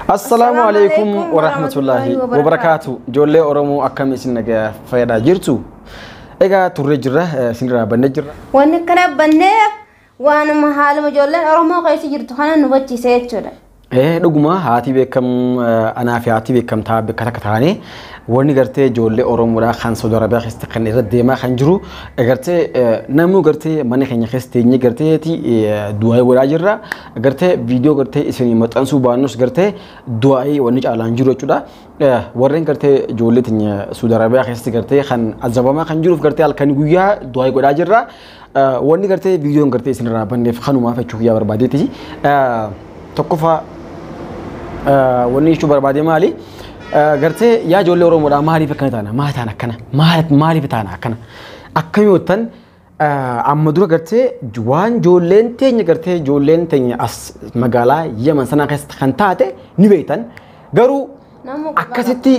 Assalaamu alaikum wa rahmatullahi wa barakaatu. Ijoollee Oromoo akkam isin nagaa fayyadaa jirtu? Egaa turree jirra, eh, isin irraa bannee jirra. Wanni akkana banneef waanuma haaluma ijoolleen Oromoo keessa jirtu kana nu hubachiise jechuudha. Eh, dhuguma haati beekam eh, anaa fi haati beekamtaa bakka takka taane wanni gartee ijoollee Oromoodhaa kan Saudi Arabiyaa keessatti kan irra deemaa kan jiru eh, gartee eh, namuu gartee mana keenya keessa teenyee garteeti eh, du'aa godhaa jirra. gartee viidiyoo gartee isinii maxxansuu baannus gartee du'aa'ii wanni caalaan jiru jechuudha. Warreen gartee ijoollee teenya Suudi Arabiyaa keessatti gartee kan azabamaa kan jiruuf gartee halkanii guyyaa du'aa'ii godhaa jirra. Wanni gartee viidiyoon gartee isinirraa banneef kanumaaf jechuu kiyyaa barbaadeeti. Tokkoffaa wanni jechuu barbaade maali? Gartee yaa ijoollee Oromoodhaa maaliif akkana taana? Maal taana akkana? Maaliif taana akkana? Akkamiin Amma dura gartee waan ijoolleen teenya gartee ijoolleen teenya as magaalaa Yaman sanaa keessatti kan taate ni beektan. Garuu akkasitti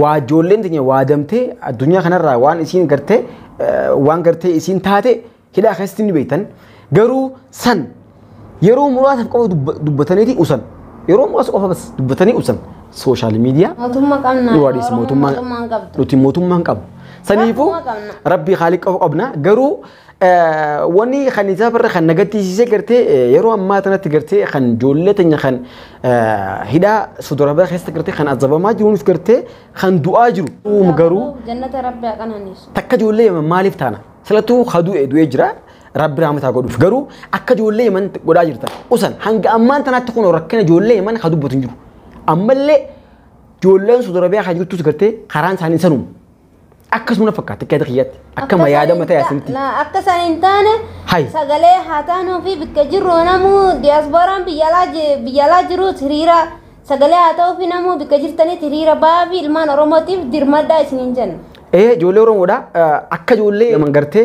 waa ijoolleen teenya waadamtee addunyaa kanarraa waan isiin gartee waan gartee isiin taate hidhaa keessatti ni beektan. Garuu san Yeroo muraasaaf qofa dubba- dubbataniiti usan. Yeroo muraasa qofa bas dubbatanii usan. Sooshaal miidiyaa Mootummaa qabna. yoo adiis Oromoo mootummaa mootummaa hin qabdu. nuti mootummaa hin qabnu. Saniifuu Rabbuma qabna. rabbii haaliq qofa qabna. Garuu eh, wanni kan isaa barra kan nagattiisisee gartee eh, yeroo ammaa tanatti gartee kan ijoollee teenya kan eh, hidhaa sodorabaa keessa gartee kan azabamaa jiruunis gartee kan du'aa jiru. Garuu Jannata Rabbi haa qananiisu. takka ijoollee maaliif taana? Silattuu haa du'e du'ee jira. Rabbi raamata godhuuf garuu akka ijoollee Yemen godhaa jirtan usan hanga ammaan tanaatti kun rakkina ijoollee Yemen haa dubbatu hin jiru. Ammallee ijoolleen Saudi Arabiyaa haa jirtus gartee karaan isaanii sanuma. Akkasuma na fakkaata akka yaada kiyyaatti akkama yaadama ta'e asinitti. Akka isaan hin taane Hai. sagalee haa taanuu fi bakka jirru namuu diyaaspooraan biyyalaa ji- biyyalaa jiruus hiriira sagalee haa ta'uu fi namuu bakka jirtanitti hiriira ba'aa fi ilmaan Oromootiif dirmadhaa isiniin jenna. Ee ijoollee Oromoodha akka ijoollee Yemen gartee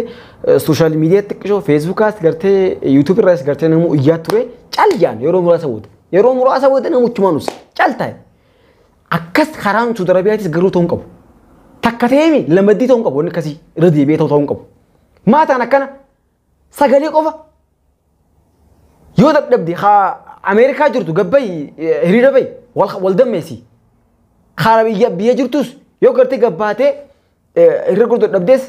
Sooshaal miidiyaa xiqqishoo feesbuukaas gartee yuutuubii irraas gartee namuu iyyaa ture cal jaan yeroo muraasa booda. Yeroo muraasa booda namuchumaan usa cal taa'e. Akkas karaan Suudi Arabiyaatis garuu ta'uu hin qabu. Takka ta'eemi lamaddii ta'uu hin qabu wanni akkasii irra deebi'ee ta'uu ta'uu hin qabu. Maataan akkana sagalee qofa yoo dadhabde haa Ameerikaa jirtu gabbayi hiriira bayi wal dammeessi. Kaara biyya biyya jirtus yoo gartee gabbaatee Irra gurgurta dhabdees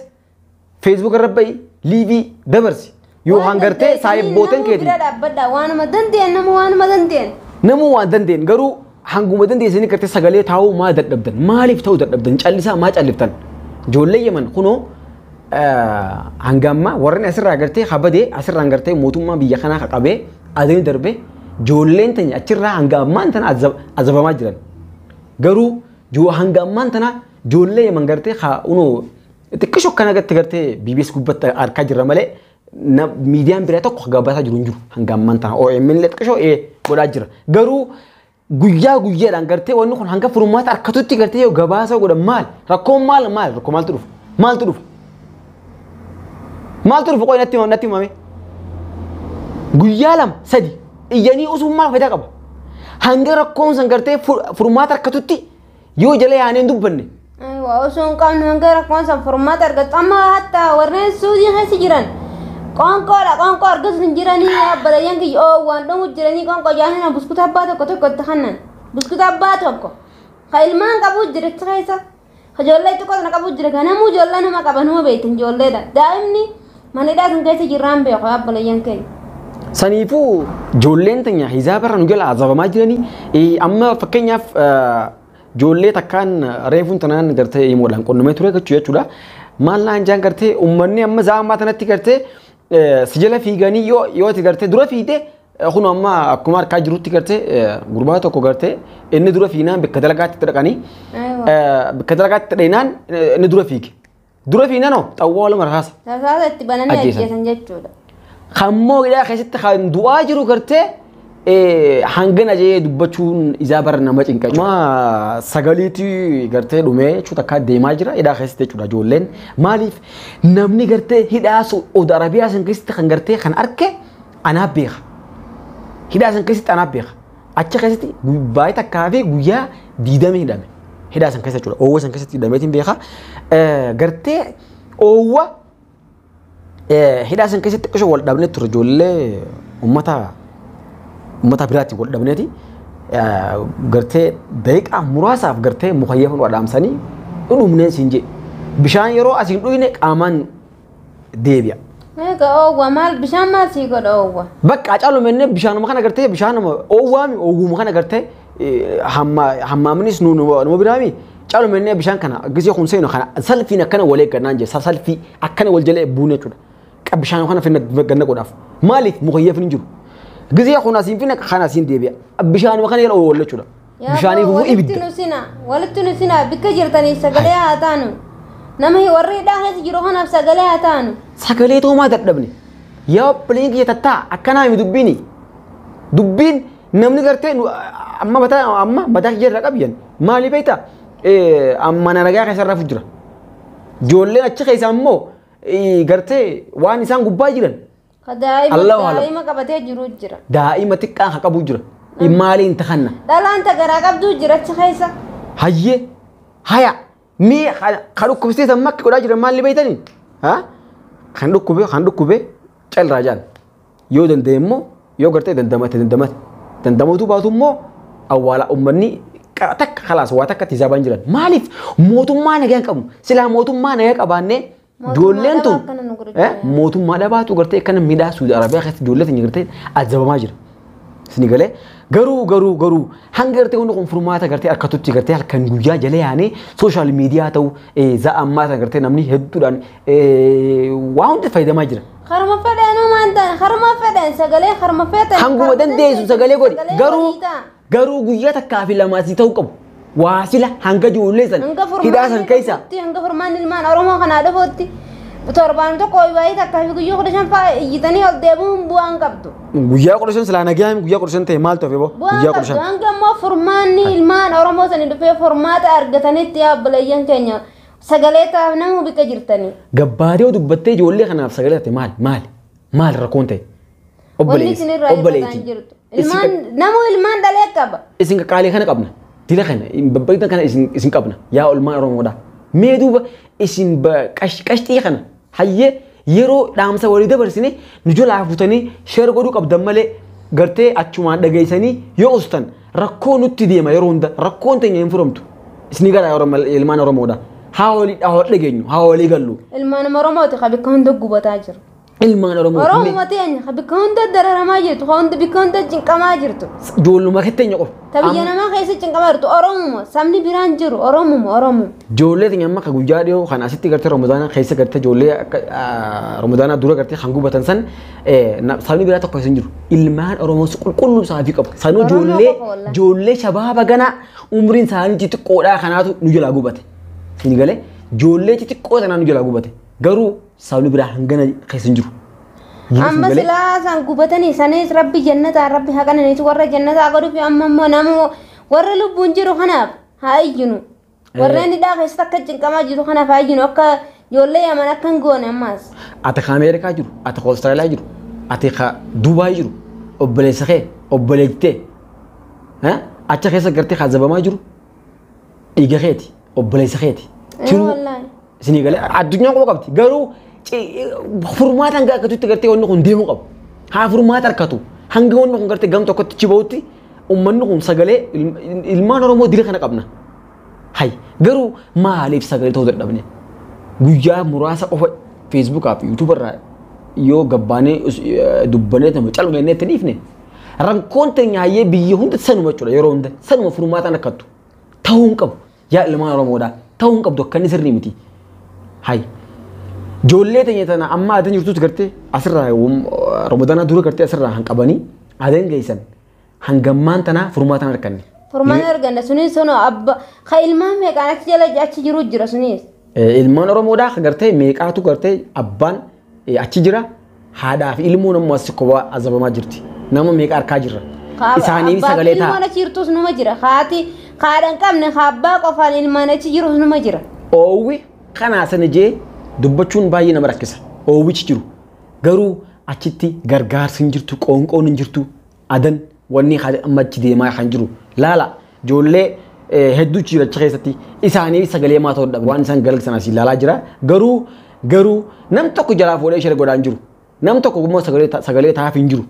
feesbuuk irra ba'i liivii dabarsi. Yoo hangartee saayibbootan keetii. Bira dhaabbadha waanuma dandeen nama waanuma dandeen. Namuu waan dandeen garuu hanguma dandeessanii gartee sagalee taa'uu maa dadhabdan maaliif ta'uu dadhabdan callisaa maa calliftan ijoollee yeman kunoo hanga ammaa warreen asirraa gartee habadee asirraan gartee mootummaa biyya kanaa qaqabee adanii darbee ijoolleen tanya achirraa hanga ammaan tana azabamaa jiran garuu hanga ammaan tana Ijoollee yeman gartee haa unoo xiqqisho akkana gatti gartee BBS gubbatti arkaa jirra malee na- miidiyaan biraa tokko gabaasaa jiru hin jiru hanga ammaan tana OMN illee xiqqisho ee godhaa jira garuu guyyaa guyyaadhaan gartee wanni kun hanga furmaata harkatutti gartee yoo gabaasa godhan maal rakkoon maal maal rakkoo maaltu dhufa maaltu dhufa maaltu dhufa qoy natti himame natti himame guyyaa lama sadi iyyanii usuun maal fayidaa qaba hanga rakkoon san gartee fur- furmaata harkatutti Yoo jala yaanee hin dubbanne. Waa osoo hin qabne hanga rakkoon san furmaata argattu amma hatta warreen suudii keessa jiran qoonqoodha qoonqoo argatu hin jiranii abbalayyan kiyya oo waan dhumu jiranii qoonqoo jaanina buskuta abbaa tokko tokko itti kannan buskuta abbaa tokko ka ilmaan qabuu jira achi keessa ka ijoollee xiqqoo sana qabuu jira ka namuu ijoollee nama qaba nama beektan ijoolleedha daa'imni Mana hidhaa kan keessa jirraan beeku yaa obboleeyyan keenya. Saniifuu ijoolleen teenya hijaaba irra nu jala azabamaa jiranii eh, amma fakkeenyaaf eh, ijoollee takkaan reefuun tanaan gartee himoodhaan qunnamee ture jechuu jechuudha. Maal naan jaan gartee uummanni amma zaamaa tanatti gartee eh, si jala fiiganii yoo yoo itti gartee dura fiigde eh, kun amma akkuma harkaa jirutti gartee eh, gurbaa tokko gartee inni dura fiignaan bakka dalagaatti itti dhaqanii Aywa. eh, bakka dalagaatti itti dhaqnaan eh, inni dura fiige. Dura fi nanoo xawwaa lama rasaasa. Rasaasa itti bananii Ajjeesan. ajjeesan jechuudha. Kan moo hidhaa keessatti kan du'aa jiru gartee eh, hangana jee dubbachuun isaa bara nama cinqa. Ma sagaliitii gartee dhumee jechuudha akka deemaa jira hidhaa keessatti jechuudha ijoolleen. Maaliif namni gartee hidhaa Saudi Arabiyaa san keessatti kan gartee kan arke anaa beeka. Hidhaa san keessatti anaa beeka. Achi keessatti baay'ee takkaa fi guyyaa diidama hidhame. Hidhaa san keessa jechuudha. Oowwa san keessatti hidhameetiin beekaa. Gartee oowwa hidhaa san keessatti qisho wal dhabnee ture ijoollee uummata uummata biraatti wal dhabneeti. Gartee daqiiqaa muraasaaf gartee mukayyafan wal dhaamsanii dhudhumneen siin jee. Bishaan yeroo asiin dhuyne qaamaan deebi'a. Eega oowwa maal bishaan maal sii godha oowwa. Bakka acaalu mennee bishaanuma kana gartee bishaanuma oowwaami oowwuma kana gartee hammaaminis nu nama biraami caalu mennee bishaan kana gisee kun seenu kana salfiin akkana wal eeggannaan jee salfii akkana wal jala eebbuun jechuudha. Qab bishaan kana finna ganna godhaaf maaliif mukayyaf hin jiru. Gisee kun asiin finna kana asiin deebi'a bishaanuma kana jala oowwalla jechuudha. Yaa Bishaanii boo, gubuu walitti ibidda. nu sina walitti nu sina bikka jirtaniif sagalee haa taanu nama warri hidhaa keessa jiru kanaaf sagalee haa taanu Sagalee toomaa dadhabne. Yaa obboleen kiyya tattaa akkanaa himi dubbiini. Dubbiin namni gartee nu amma mataa amma mataa kiyya irraa qabiyan maali beekta amma na nagaa keessa rafu jira. Ijoolleen achi keessa ammoo eh, gartee waan isaan gubbaa jiran Ka daa'ima Allahu alam. daa'ima qabatee jiru jira. Daa'ima xiqqaa ka qabu jira. Immaalee hin tahanna. Dhalaan ta garaa qabduu jira achi keessa. Hayyee. Haya. Mee ka- ka dhukkubsiisan makki godhaa jiran maalli beeytanii? Ha? Kan dhukkube kan dhukkube calraa jaan. Yoo danda'e immoo yoo gartee dandamate dandamate. Dandamatu baatu immoo awwaala uummanni qara takka kalaas waa takkatti hisaabaan jiran. Maaliif mootummaa nagaa hin qabnu? Silaa mootummaa nagaa qabaannee Ijoolleen tun mootummaa dhabaatu gartee akkana midhaa Suudi Arabiyaa keessatti ijoollee tun gartee azabamaa jira. Isin galee garuu garuu garuu hanga gartee hundi kun furmaata gartee akkatutti gartee halkan guyyaa jala yaanee sooshaal miidiyaa ta'u za'a ammaa sana gartee namni hedduudhaan waa hundi fayyadamaa jira. Harma fedheen uumaan ta'an harma fedheen sagalee harma fedhan. Hanguma dandeessu sagalee godhi garuu Garuu guyyaa takkaa fi lamaa si ta'uu qabu. Waa sila hanga ijoollee san Hanga hidhaa san furmaanni keessa. dhufutti, hanga furmaanni ilmaan Oromoo kanaa dhufutti torbaan tokko waayii takkaa fi guyyuu kudha shan fa'aa iyyitanii ol deebi'uun bu'aa hin qabdu. Guyyaa kudha shan silaa nagaa himi guyyaa kudha shan ta'e maal ta'e boo Bu'aa guyyaa kudha qabdu. shan. Hanga immoo furmaanni ilmaan Oromoo sani dhufee furmaata argatanitti yaa obboleeyyan keenya sagalee taa'aaf namuu bika jirtanii. Gabbaadee dubbattee ijoollee kanaaf sagalee taate maal maal maal rakkoon ta'e. Wanni Obboleessi, isin irraa hir'ataa hin obboleettii. jirtu. Isin Ilmaan qaq- namuu ilmaan dhalee qaba. isin qaqqaalee kana qabna. Dila kana, babbaqitan kana isin, isin qabna. Yaa olmaa Oromoodha. Mee duuba isin ba- qash- qashxii kana hayyee yeroo dhaamsa walii dabarsine nu jalaa futanii sheer godhuu qabdan malee gartee achumaan dhageessanii yoo ustan rakkoo nutti deema yeroo hunda rakkoon teenya hin furamtu. Isin gara Oromo- ilmaan Oromoodha. Haa walii haa wal dhageenyu, haa walii gallu. Ilmaan Oromooti ka bakka hunda gubataa jiru. ilmaan Oromoo fi Oromoo teenya ka bikka hunda dararamaa jirtu, ka hunda bikka hunda cinqamaa jirtu. ijoolluma keetti eenyu qofa. Ta biyya Amma namaa keessa cinqamaa jirtu Oromoo sabni biraan jiru Oromoo Oromoo. Ijoollee teenya amma ka guyyaa dhiyoo kan asitti gartee Ramadaanaa keessa gartee ijoollee akka ah, Ramadaanaa dura gartee kan gubatan san eh, na- sabni biraa tokko hin jiru. Ilmaan Oromoos qulqulluu isaafii qabu. Sanuu Oromoo ijoollee qofa wallahi. ijoollee shabaaba ganaa umriin isaanii xixiqqoodhaa kanaatu nu jalaa gubate. Siin galee ijoollee xixiqqoo tanaa nu jalaa gubate. Garuu Sabni biraa hangana keessa hin jiru. Jiruuf amma malee- silaa san gubatanii sanis rabbi jannataa rabbi haqananiis warra jannataa godhuuf amma immoo nama warra lubbuun jiru kanaaf haa iyyinu warreen hidhaa keessatti akka cinqamaa jiru kanaaf haa iyyinu akka ijoollee yaman akka hin goone ammaas Ati ka Ameerikaa jiru, ati ka Awustiraaliyaa jiru, ati ka Duubaay jiru, obboleessa kee, obboleettee, eh, acha keessa gartee ka zabamaa jiru, dhiiga keeti, obboleessa keeti. Ee, Tiruu wallaahi. Isinii galee addunyaan quba qabdi. Garuu furmaata hanga akkatutti gartee wanni kun deemuu qabu. Haa furmaata harkatu. Hanga wanni kun gartee gam tokkotti achi bahutti uummanni kun sagalee ilmaan Oromoo dila kana qabna. Hay garuu maaliif sagalee ta'uu dadhabne? Guyyaa muraasa qofa Feesbuukaa fi Yuutuuba irraa yoo gabbaanee dubbanee nama calmeennee itti dhiifne rakkoon teenya hayyee biyya hunda sanuma jechuudha yeroo hunda sanuma furmaataan akkattu ta'uu hin qabu. Yaa ilmaan Oromoodhaa ta'uu hin qabdu akkanni sirrii miti. Hay. Joollee teenya tana amma adan jirtus gartee asirraa Ramadaanaa dura gartee asirraa han qabanii adan geessan hangammaan tanaa furmaata hin arganne. Furmaata arganna sunis sun abba ka ilmaan meeqaan achi jala achi jiru jira sunis. Eh, Ilmaan Oromoodhaa gartee meeqaatu gartee abbaan eh, achi jira Haadhaa fi ilmoon ammoo assi kophaa azabamaa jirti. Nama meeqa arkaa jirra. Isaanii sagalee ta'a. Ilmaan achi jirtus numa jira. Haati haadhan qabne abbaa qofaan ilmaan achi jirus numa jira. Oowwi kanaa sana jee dubbachuun baay'ee nama rakkisa. Oowwichi jiru. Garuu achitti gargaarsi hin jirtu, qoonqoon hin jirtu. adan wanni kan amma achi deemaa kan jiru laala ijoollee eh, hedduu ciiracha keessatti isaanii sagalee maa ta'uu dhabe waan isaan galgsan asii laalaa jira garuu garuu nam tokko jalaa fuudhee shira godhaan jiru nam tokko immoo sagalee ta- sagalee taa'aaf hin jiru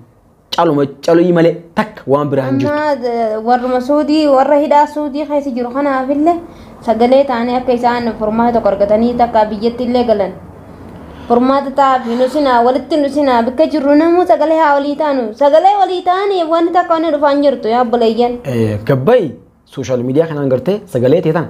caluma calii malee takka waan biraa hin jiru Amma eh, warruma suudii warra hidhaa suudii keessa jiru kanaafillee sagalee taanee akka isaan furmaata tokko argatanii takka biyyatti illee galan Furmaata taa'aaf hin usinaa walitti hin usinaa bakka jirru namuu sagalee haa walii taanu sagalee walii taaniif wanti takka wanni dhufaa hin jirtu yaa obboleeyyan. Gabbayi sooshaal miidiyaa kanaan gartee sagalee ta'e tana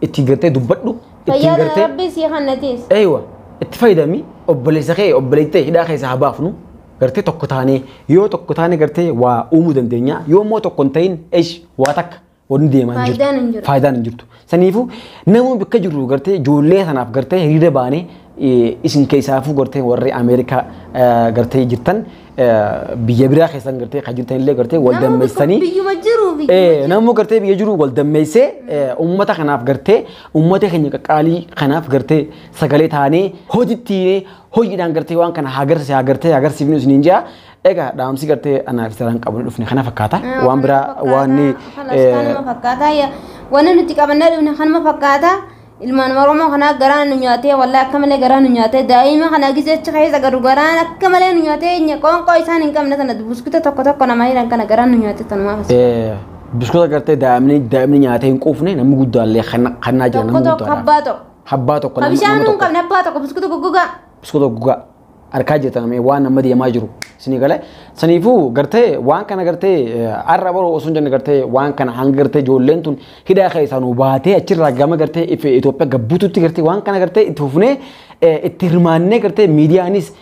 itti gartee dubbadhu ittiin Fayyaa gartee rabbii sii kannatiis. eeywa itti fayyadami obboleessa kee obboleetti ta'e hidhaa keessaa haa baafnu gartee tokko taanee yoo tokko taanee gartee waa uumuu dandeenya yoo immoo tokko hin ta'in eesh waa takka Wanni deemaa hin Faayidaan hin jirtu. jiru. Faayidaan hin jirtu. Saniifuu namuu bakka jirru gartee ijoollee sanaaf gartee hiriira baanee eh, isin keessaafuu gartee warri Ameerikaa eh, gartee jirtan eh, biyya biraa keessan gartee kan jirtan illee gartee wal Namuu tokko dammeessanii Biyyuma jiru biyyuma Eh, jiru. namuu gartee biyya jiru wal dammeessee eh, uummata kanaaf gartee uummata keenya qaqqaalii kanaaf gartee sagalee taanee hojitti hiinee hojiidhaan gartee waan kana haa garsiise haa gartee haa garsiifnu isiniin jaa Egaa dhaamsi gartee anaa fi saraan qabnu dhufne kana fakkaata. Waan biraa waan Kanuma fakkaata. Ya- Wanni nuti qabannee dhufne kanuma fakkaata. Ilmaan Oromoo kanaa garaan nu nyaatee wallee akka malee garaan nu nyaatee daa'ima kana gisee achi keessa garu garaan akka malee nu nyaatee nya- qoonqoo isaan hin qabne sana buskuta tokko tokko nama hiran kana garaan nu nyaatee tanumaa fasa. biskuta gartee daa'imni daa'imni nyaatee hin quufne namni guddaallee kan- kannaa jira Tokko namni tokko guddaadha. abbaa tokko. Habbaa tokko Ka namni bishaan namni nu hin tokko qabne abbaa tokko buskuta goggogaa. biskuta gogaa. arkaa jirtan mee waan amma deemaa jiru isinii galee saniifuu gartee waan kana gartee arra baroo osoo hin jenne gartee waan kana hanga gartee ijoolleen tun hidhaa keessaa nu baatee achirraa gama gartee if Itoophiyaa gabbuututti gartee waan kana gartee itti fufnee itti hirmaannee gartee miidiyaanis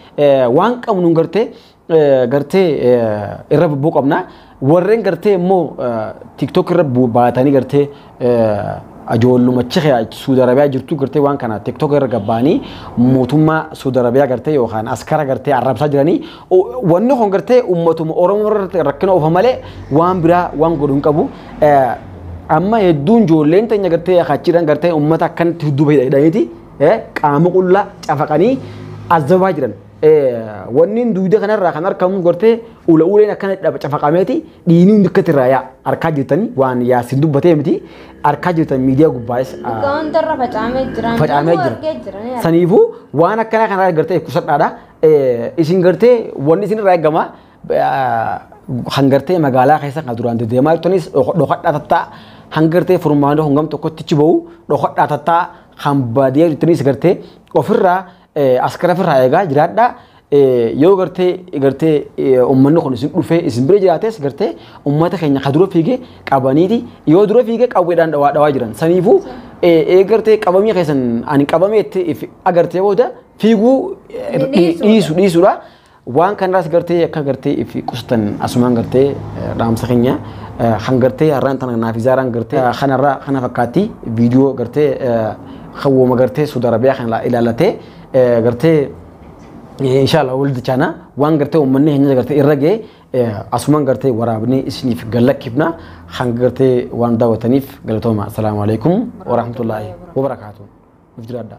waan qabnuun gartee gartee irra bubbuu qabna. Warreen gartee immoo tiktok irra baatanii gartee ajoollumachi kee Suudi Arabiyaa jirtu gartee waan kana tiktok irra gabbaanii mootummaa Suudi Arabiyaa gartee yookaan askara gartee arrabsaa jiranii wanni kun gartee ummatuma Oromoo irratti rakkina oofa malee waan biraa waan godhu hin qabu. Amma hedduun ijoolleen teenya gartee achiidhaan gartee ummata akkanatti hedduu fayyadamaniiti qaama qullaa cafaqanii azabaa jiran. Wanniin duuda kanarraa kan argamu gortee ula uleen akkana dhaba cafaqameeti dhiinii hundi akkatti irraa yaa arkaa jirtanii waan yaasin dubbatee miti arkaa jirtan miidiyaa gubbaayis Dhugaa hundarra facaamee jira. facaamee Namuu argee jira. ni jira. arga. Saniifuu waan akkanaa kanarraa gartee kusadhaadha. Isin gartee wanni isin irraa eegama kan gartee magaalaa keessa kan duraan deddeemaa jirtanis dhokadhaa tattaa kan gartee furmaanoo hangam tokkotti achi bahu dhokadhaa tattaa kan baadiyyaa jirtanis gartee ofirraa Askara firraa eegaa jiraadhaa. Yoo gartee gartee uummanni kun isin dhufee isin bira jiraates gartee uummata keenya ka dura fiigee qabaniiti yoo dura fiigee qawweedhaan dhawaa dhawaa jiran. Saniifuu gartee qabamii keessan ani qabameetti agartee booda fiiguu dhiisu dhiisudha. Waan kanarraas gartee akka gartee if qusatan asumaan gartee dhaamsa keenya kan gartee har'aan tana naaf izaaraan gartee kanarraa kana fakkaatti viidiyoo gartee hawwoma gartee Suudi Arabiyaa kana ilaalatee gartee inshallah wal dichaana waan gartee uummanni keenya gartee irra ga'e asumaan gartee waraabnee isiniif gallakkifna kan gartee waan daawwataniif galatooma. Assalaamu alaikum wa rahmatullaahi wa barakaatuh. Nuuf jiraadhaa.